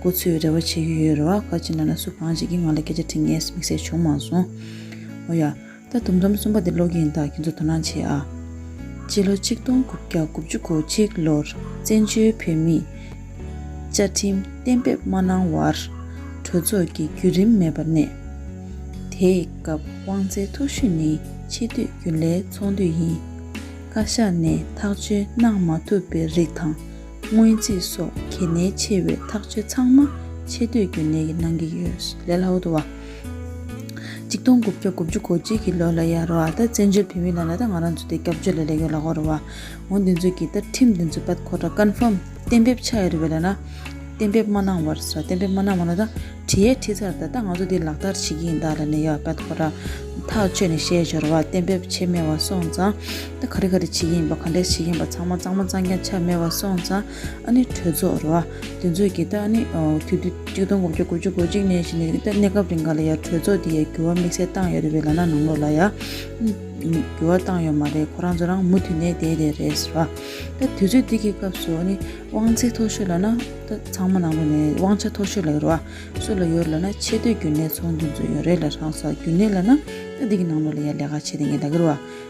ཁོ་ཚོས་རེ་བ་བྱེད་ཀྱི་ཡོད་རེད་བ་བཀའ་སྤྱི་ལགས་ལ་སུ་གང་བྱེད་ཀྱི་ང་ལ་སྐད་ཆ་དྲི་ངས་མིག་གསལ་བྱུང་མ་སོང། ཨོ་ཡ། ད་དུམ་ཚོམ་གསུམ་པ་དེ་ཀློག་གི་ཡིན་ད་ཁྱེད་ཚོ་དོ་སྣང་བྱེད་ཨ། སྤྱི་ལོ་ཆིག་སྟོང་དགུ་བརྒྱ་དགུ་བཅུ་གོ་གཅིག་ལོར་བཙན་བྱོལ་བོད་མིས། བཅའ་ཁྲིམས་གཏན་འབེབས་མ་གནང་བར། གྲོས་ཚོགས་ཀྱི་བརྒྱུད་རིམ་མེད་པར་གནས། དེའི་སྐབས་དབང་ཚའི་ཐུགས་བཞུད་ནི་ཆེས་དུས་རྒྱུན་ལས་ཚོགས་འདུས་ཡིན། བཀའ་ཤག་ནས་ཐག་གཅོད་གནང་མ་ཐུབ་པའི་རིགས་དང། སྔོན་རྩིས་སོགས་གལ་གནད་ཆེ་བའི་ཐག་གཅོད་ཚང་མ་ཆེ་བསྟོད་རྒྱུན་གནས་ཀྱིས་གནང་གི་ཡོད། ལེ་ལའོ་ཏུ་བ། གཅིག་སྟོང་དགུ་བརྒྱ་དགུ་བཅུ་གོ་གཅིག་གི་ལོ་ལ་ཡར་བ་ད་བཙན་བྱོལ་བོད་མི་ལ་ལ་ད་ང་རང་ཚོ་དེ་སྐྱབས་བཅོལ་ལ་ལས་ཡོད་ལ་ཧོར་བ། ངོ་འདི་ཚོ་གི་ད་ཁྲིམས་འདི་ཚོ་པད་ཁོ་ད Confirm གཏན་འབེབས་ཆགས་ཡོད་རེད་བས་ལ་ན། གཏན་འབེབས་མ་གནང་བར་ས་གཏན་འབེབས་མ་གནང་བ་ན་ད་བྲི་ཡས་བྲི་ཚར་ད་ད་ང་ཚོ་དེ་ལག་བསྟར་བྱེད་ཀྱི་ཡིན་ད་ལ་ནས་ཡ་པད་ཁོ་ད། ཐག་ཆོད་ནས་བཤད་འབྱོར་བ་གཏན་འབེབས་བྱེད་མེད་བ་སོང་ཙང། ད་ག་རེ་ག་རེ་བྱེད་ཀྱིན་ཡིན་པ་ག་འདྲས་བྱེད་ཀྱིན་པ་ཚང་མ་གཙང་མ་གཙང་རྐྱང་ཆ་མེད་པར་སོང་ཙང་ཨ་ནི་གྲོས་ཚོགས་རུ་ཨ་དེ་ཚོས་ཀྱིས་ད་ཨ་ནི་དུས་དུས་གཅིག་སྟོང་དགུ་བརྒྱ་དགུ་བཅུ་གོ་གཅིག་ནས་བཞིན་ནས་ད་གནས་སྐབས་རིང་ག་ལ་ཡར་གྲོས་ཚོགས་འདི་ཡར་འགྱུར་བ་དམིགས་བསལ་བཏང་ཡོད་རེད་པས་ལ་ན་ནང་ལོགས་ལ་ཡང་འགྱུར་བ་བཏང་ཡོད་མ་རེད་ཁོ་རང་ཚོ་རང་མུ་མཐུད་ནས་བསྡད་བསྡད་རེད་ཟེར་བ། ད་དུས་ཚོད་འདི་གི་སྐབས་སུ་ཨ་ནི་དབང་ཚད་མཐོ་ཤོས་ལ་ན་ད་ཚང་མ་ནང་ལོགས་ནས་དབང་ཆ་མཐོ་ཤོས་ལ་ཡོད་རུ་ཨ་སུ་ལ་ཡོད་རུ་ལ་ན་ཆེ་བསྟོད་རྒྱུ་ནས་ཚོང་འདུས་ཚོ་ཡོད་རེད་ལ་རང་ས་རྒྱུ་ནས་ལ་ན་ད་འདི་གི་ནང་ལོགས་ལ་ཡར་ལས་ཀ་བྱས་ཏེ་ངས་ད་གི་རུ་ཨ།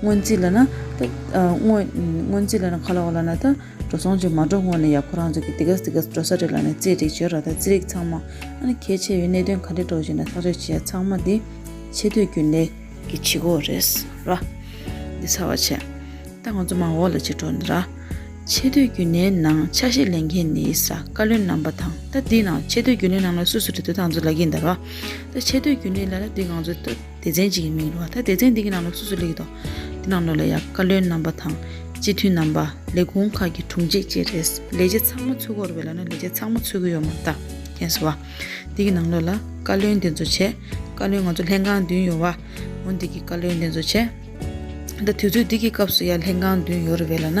སྔོན་རྩིས་ལ་ན་ད། སྔོན་རྩིས་ལ་ན་ཁ་ལ་བ་ལ་ན་ད། འགྲོ་སོང་ཅིག་མ་འགྲོ་སྔོན་ནས་ཡག་ཁོ་རང་ཚོ་གི་དེ་ག་དེ་ག་འགྲོ་ས་རེད་ལ་ནས་རྩིས་སྒྲིག་བྱོས་ར་ད་རྩིས་རིག་ཚང་མ་ཨ་ནི་གལ་ཆེ་བའི་གནད་དོན་ག་འདྲེ་འགྲོ་བཞིན་ན་ཐག་གཅོད་བྱེད་ཡ་ཚང་མ་དེ་ཆེ་བསྟོད་རྒྱུ་ལས། གི་བྱེད་སྒོ་རེད་ར། འདི་ཚར་བ་ཆེ། ད་ང་ཚོ་མ་འོག་ལ་ཅིག་འགྲོ་འདི་ར། ཆེ་བསྟོད་རྒྱུ་ལས་ནང་ཆ་ཤས་ལེན་མཁན་ནི་ས་བཀའ་བློན་རྣམ་པ་དང་ད་འདི་ནང་ཆེ་བསྟོད་རྒྱུ་ལས་ནང་ལ་སུ་སུ་འདྲེ་འདུ་ད་ང་ཚོ་ལ་གིན་ད་ར། ད་ཆེ་བསྟོད་རྒྱུ་ལས་ལ་ད་འདི་ང་ཚོ་ད། སྡེ་ཚན་གཅིག་གི་མིང་རུང་བ་དང་སྡེ་ཚན་དེ་གི་ནང་ལོགས་སོ་སོ་ལེགས་དོགས་ཀྱི་ནང་ལོགས་ལ་ཡང་བཀའ་བློན་རྣམ་པ་དང་སྤྱི་འཐུས་རྣམ་པ་ལས་ཁུངས་ཁག་གི་དྲུང་ཆེ་བཅས་རེད་ལས་བྱེད་ཚང་མ་ཚུད་འགོར་བའི་ལ་ན་ལས་བྱེད་ཚང་མ་ཚུད་གི་ཡོད་མ་རྟ་རྒན་ཟེར་བ་དེ་གི་ནང་ལོགས་ལ་བཀའ་བློན་འདི་ཚོ་བྱས་བཀའ་བློན་ང་ཚོ་ལྷན་ཁང་བདུན་ཡོད་བ་འོན་དེ་གི་བཀའ་བློན་དེ་ཚོ་བྱས་ད་དུས་ཚོད་འདི་གི་སྐབས་སུ་ཡང་ལྷན་ཁང་བདུན་ཡོད་རེད་བས་ལ་ན།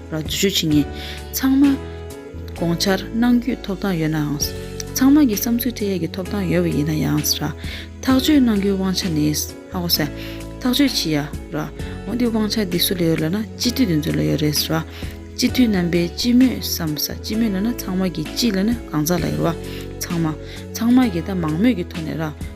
ལ་འཛུལ་ཞུགས་བྱེད་ངེས། ཚང་མ། དགོངས་འཆར་གནང་རྒྱུའི་ཐོབ་ཐང་ཡོད་ནའང། ཚང་མ་གི་བསམ་ཚུལ་འཕྲད་ཡས་ཀྱི་ཐོབ་ཐང་ཡོད་པ་ཡིན་ན་ཡང། ཐག་གཅོད་གནང་རྒྱུའི་དབང་ཆ་ནི། ཐག་གཅོད་བྱེད་ཡས། འོ་འདི་དབང་ཆ་འདི་སུ་ལ་ཡོད་ལ་ན་སྤྱི་འཐུས་འདི་ཚོ་ལ་ཡོད་རེད། སྤྱི་འཐུས་རྣམ་པའི་སྤྱི་མོས་སམ། སྤྱི་མོས་ལ་ན་ཚང་མ་གི་སྤྱི་ལ་ན་གང་ཟག་ལ་ཡོད། ཚང་མ། ཚང་མ་གི་ད་མང་མོས་ཀྱི་ཐོག་ནས།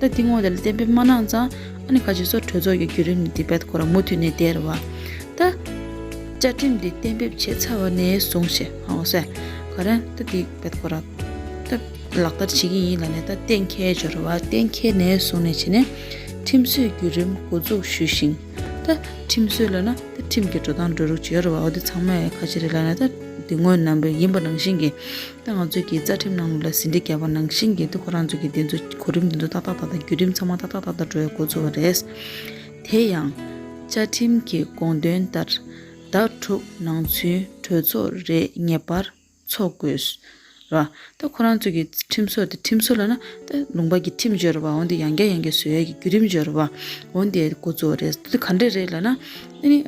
ད་དེ་ངོ་དེ་ལ་བརྟེན་པའི་མ་ནང་ཚང་ཨ་ནི་ཁ་ཆེ་སོགས་གྲོས་ཚོགས་ཀྱི་བརྒྱུད་རིམ་ནི་དེབ་དཔེ་ཁོ་རང་མུ་མཐུད་ནས་སྟེར་བ། ད། བཅའ་ཁྲིམས་འདི་གཏན་འབེབས་བྱས་ཚར་བ་ནས་བཟུང་ཞེས་ཧང་བོ་སེ། ཁ་རན། ད་དེ་དཔེ་ཁོ་རང། ད། ལག་བསྟར་བྱེད་ཀྱི་ཡིན་ལ་ནས་ད་གཏན་འཁེལ་འབྱོར་བ་གཏན་འཁེལ་ནས་བཟུང་ནས་བྱས་ནས། ཁྲིམས་བཟོའི་བརྒྱུད་རིམ་འགོ་འཛུགས་ཞུས་ཤིང། ད། ཁྲིམས་བཟོས་ལ་ན་ད་ཁྲིམས་ཀྱི་འགྲོ་སྟངས་འགྲོ་རུག་བྱེད་འོར་བ་འོ་དེ་ཚང་མ་ཡི་ཁ་ཆེ་རེད་ལ་ནས་ད། དེ་སྔོན་ནང་པའི་ཡིན་པ་ནང་བཞིན་གྱི། ད་ང་ཚོས་ཀྱིས་རྩ་ཁྲིམས་ནང་ལུགས་ལ་ཟིན་བྲིས་བརྒྱབ་པ་ནང་བཞིན་གྱིས་འདུག་ཁོ་རང་ཚོས་ཀྱིས་དེ་ཚོ་གོ་རིམ་དེ་ཚོ་ཏག་ཏག་ཏག་ཏག་བརྒྱུད་རིམ་ཚང་མ་ཏག་ཏག་ཏག་ཏག་འགྲོ་ཡ་གོ་ཚུལ་བ་རེད། དེ་ཡང། བཅའ་ཁྲིམས་ཀྱི་དགོངས་དོན་ལྟར། ཟླ་དྲུག་ནང་ཚུན་གྲོས་ཚོགས་རེ་ངེས་པར་འཚོགས་དགོས། ར། ད་ཁོ་རང་ཚོས་ཀྱིས་ཁྲིམས་སྲོལ་དེ་ཁྲིམས་སྲོལ་ལ་ན། ད་ལུང་པ་ཀྱིས་ཁྲིམས་སྦྱོར་བ་འོན་ཏེ་ཡང་བསྐྱར་ཡང་བསྐྱར་བཟོས་ཡས་ཀྱིས་བརྒྱུད་རིམ་སྦྱོར་བ་འོན་ཏེ་གོ་ཚུལ་བ་རེད། དེ་ག་འདྲ་རེད་ལ་ན། དེ་ནི།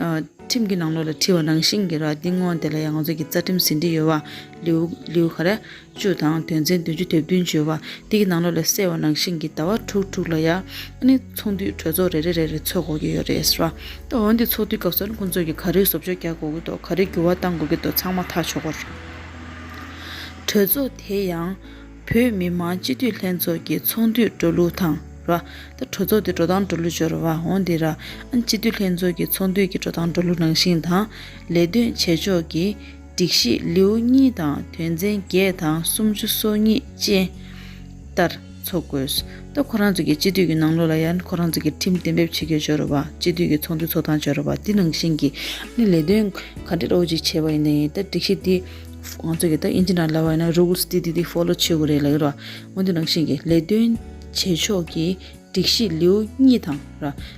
ཁྲིམས་ཀྱི་ནང་ལུགས་ལ་འཁྲིལ་བ་ནང་བཞིན་གྱིས་ར། དེ་སྔོན་དེ་ལ་ཡང་ང་ཚོས་ཀྱིས་རྩ་ཁྲིམས་ཟིན་བྲིས་ཡོད་བ། ལེའུ་ཧ་ར་བཅུ་དང་དོན་ཚན་བདུན་ཅུ་དེབ་བདུན་བརྗོད་པ་འདི་ཀྱི་ནང་ལོགས་ལས་གསལ་བ་ནང་བཞིན་གྱི་ཟླ་བ་དྲུག་དྲུག་ལ་ཡང་ནི་ཚོང་འདུས་གྲོས་ཚོགས་རེ་རེ་རེ་རེ་ཚོགས་དགོས་ཀྱི་ཡོད་རེད་ཟེར་བ། འོན་ཏེ་ཚོགས་འདུའི་སྐབས་སུ་ཁོང་ཚོས་ཀྱི་ག་རེའི་བཟོ་བཅོས་རྒྱག་དགོས་ཀྱི་འདུག་ག་རེའི་འགྱུར་བ་བཏང་དགོས་ཀྱི་འདུག་ཚང་མ་ཐག་ཆོད་པོ་རེད། གྲོས་ཚོགས་དེ་ཡང་བོད་མི་མང་སྤྱི་འཐུས་ལྷན་ཚོགས་ཀྱི་ཚོགས་འདུས་འགྲོ་ལུགས་དང་ར། ད་གྲོས་ཚོགས་དེ་འགྲོ་སྟངས་འགྲོ་ལུགས་འབྱོར་བ་འོན་ཏེ་ར། སྤྱི་འཐུས་ལྷན་ཚོགས་ཀྱི་ཚོགས་འདུས་ཀྱི་འགྲོ་སྟངས་འགྲོ་ལུགས་ནང་བཞིན་དང། ལས་དོན་བྱེད་ཕྱོགས་ཀྱི། སྒྲིག་གཞི་ལེའུ་གཉིས་དང་དོན་ཚན་བརྒྱད་དང་སུམ་ཅུ་སོ་གཉིས་བཅས་ལྟར་འཚོགས་དགོས། ལྟོ་ཁོ་རང་ཚོ་གི་སྤྱི་འཐུས་ཀྱི་ནང་ལོགས་ལ་ཡང་ཁོ་རང་ཚོ་གི་ཁྲིམས་གཏན་འབེབས་བྱེད་རྒྱུ་འབྱོར་བ། སྤྱི་འཐུས་ཀྱི་ཚོགས་འདུ་འཚོགས་སྟངས་འབྱོར་བ་དེ་ནང་བཞིན་གྱི་ནི་ལས་དོན་ག་འདྲས་རོགས་བྱེད་བྱས་པ་ཡིན་ད་ཡིན་ད་སྒྲིག་གཞི་འདི་ང་ཚོ་གི་ད་ཨིན་ཇི་འདྲ་ལ་བ་ཡིན་ན Rules འདི་འདི་འདི Follow བྱེད་དགོས་རེད་ལ་ཡོད་ར། འོན་ཏེ་ནང་བཞིན་གྱི་ལས་དོན་བྱེད་ཕྱོགས་ཀྱི་སྒྲིག་གཞི་ལེའུ་གཉིས་དང་ར།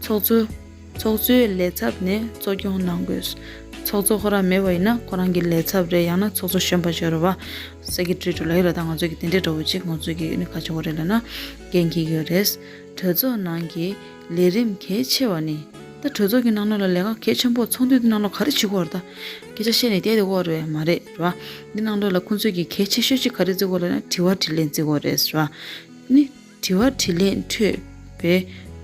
ཚོགས་གཙོ། ཚོགས་གཙོའི་ལས་ཚབ་ནས་གཙོ་སྐྱོང་གནང་དགོས། ཚོགས་གཙོ་ཁོ་རང་མེད་པ་ཡིན་ན་ཁོ་རང་གི་ལས་ཚབ་རེད་ཡང་ན་ཚོགས་གཙོ་གཞོན་པ་ཇོ་རུ་བ། Secretary། ལ་ཡོད་ལ་ད་ང་ཚོ་གི་དེ་འདྲའི་གྲོགས་པོ་གཅིག་ང་ཚོ་གི་ཁ་ཕྱོགས་རེད་ལ་ན་རྒན་གྱི་ཡོད་རེད། གྲོས་ཚོགས་ནང་གི་ལས་རིམ་གལ་ཆེ་བ་ནི། ད་གྲོས་ཚོགས་ཀྱི་ནང་ལོགས་ལ་ལས་ཀ་གལ་ཆེན་པོ་ཚོགས་འདུའི་ནང་ལོགས་ག་རེ་བྱེད་དགོས་རེད་ད། སྐད་ཆ་བཤད་ནས་བསྡད་དེ་འོག་རེད་མ་རེད་རེད་བ། འདི་ནང་ལོགས་ལ་ཁོང་ཚོས་ཀྱི་གལ་ཆེ་ཤོས་གཅིག་ག་རེ་བརྩི་དགོས་ལ་ན་དྲི་བ་དྲིས་ལན་བརྩི་དགོས་རེད་བ། ནི། དྲི་བ་དྲིས་ལན་འཕྲོད་པའི་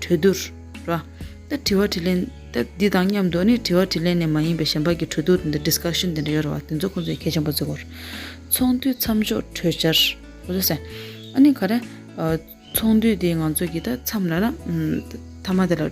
གྲོས་བསྡུར། ར། ད་དྲི་བ་དྲིས་ལན། ད་འདི་དང་མཉམ་དུ་ནི་དྲི་བ་དྲིས་ལན་ནས་མ་ཡིན་པའི་གཞན་པ་ཀྱི་གྲོས་བསྡུར་དེ་འདྲ Discussion དེ་འདྲ་ཡོད་རེད་བ་དེ་ཚོ་ཁོང་ཚོས་མཁས་ཆེན་པོ་ཚོའི་སྐོར། ཚོགས་འདུའི་མཚམས་འཇོག་གྲོས་འཆར། ཨོ་རེད་སེ། ཨ་ནི་ག་རེ། ཚོགས་འདུ་དེ་ང་ཚོ་གི་ད་མཚམས་ལ་ན། མཐའ་མ་དེ་ལ།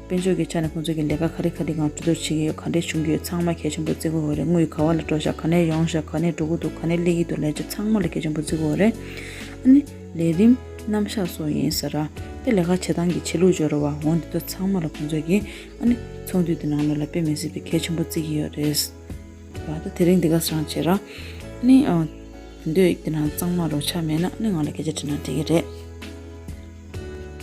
དཔལ་འབྱོར་གྱི་ཆ་ནས་ཁོང་ཚོས་ཀྱི་ལས་ཀ་ག་རེ་ག་རེ་གང་གྲོས་བསྡུར་བྱེད་ཀྱི་ཡོད་ག་འདྲས་བྱུང་གི་ཡོད་ཚང་མ་གལ་ཆེན་པོ་བརྩི་དགོས་རེད་དངུལ་ག་བ་ལ་སྤྲོ་ཞག་ག་ནས་ཡོང་ཞག་ག་ནས་འགྲོ་གི་འདུག་ག་ནས་སླེབས་ཀྱི་འདུག་ལས་བྱེད་ཚང་མ་ལ་གལ་ཆེན་པོ་བརྩི་དགོས་རེད། ཨ་ནི། ལས་རིམ། རྣམ་གཞག་སོགས་ཡིན་ཟེར། དེ་ལས་ཀ་བྱེད་སྟངས་ཀྱི་ཆེད་ལུགས་སྦྱོར་བ་འོ་འདི་དག་ཚང་མ་ལ་ཁོང་ཚོས་ཀྱི། ཨ་ནི། ཚོགས་འདུའི་དེ་ནང་ལོགས་ལ་དཔེ་མི་སྲིད་པའི་གལ་ཆེན་པོ་བརྩི་གི་ཡོད་རེད། ལ་ད་དེ་རིང་འདི་ག་སང་བྱས་ར། ཨ་ནི། དེ་འདོད་ཡིག་འདི་ནང་གཙང་མ་རོ་ཆ་མེད་ན་ཨ་ནི་ང་ལ་སྐད་ཆ་དྲིས་ན་འགྲིག་གི་རེད།